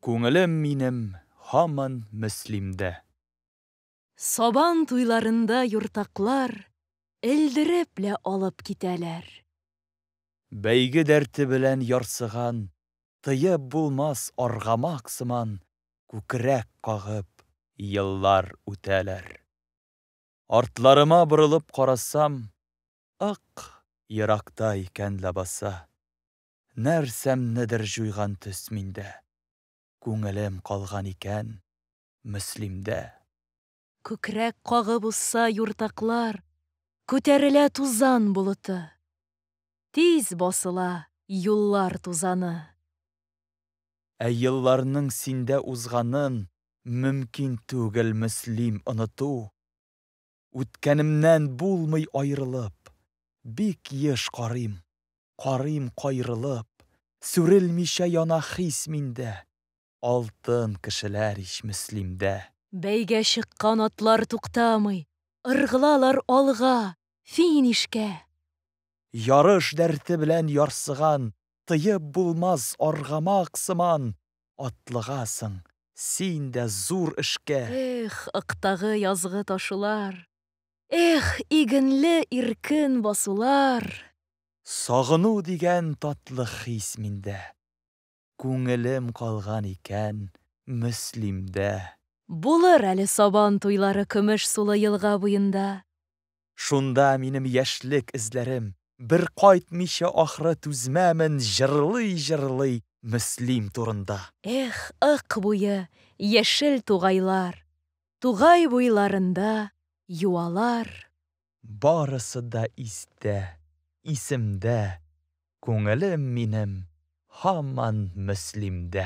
Күңелем минем һаман Мөслимдә. Сабан туйларында юртаклар Элдереп лә алып китәләр. Бәйге дәрте белән ярсыган Тыеп булмас аргамак сыман Күкрәк кагып еллар үтәләр. Артларыма борылып карасам, Ык, еракта икән ләбаса. Нәрсәмнедер җуйган төс миндә. Күңелем калган икән Мөслимдә. Күкрәк кагып узса юртаклар, Күтәрелә тузан болыты. Тиз басыла юллар тузаны. Ә елларның синдә узганын Мөмкин түгел, Мөслим, оныту. Үткәнемнән булмый аерылып, Бик еш карыйм, карыйм каерылып, Сүрелмичә яна хис миндә, Алтын кешеләр ич Мөслимдә. Бәйгә чыккан атлар туктамый, Ыргылалар алга, финишка. Ярыш дәрте белән ярсыган, Тыеп булмас аргамак сыман, Атлыгасың син дә зур эшкә. Эх, ыктагы язгы ташулар. Эх, игенле иркен басулар. Сагыну дигән татлы хис миндә. Күңелем калган икән Мөслимдә. Булыр әле Сабан туйлары Көмеш сулы елга буенда. Шунда минем яшьлек эзләрем, Бер кайтмыйча ахры түзмәмен Җырлый-җырлый Мөслим турында. Эх, ык буе, яшел тугайлар, Тугай буйларында юалар. Барысы да истә, исемдә, Күңелем минем һаман Мөслимдә.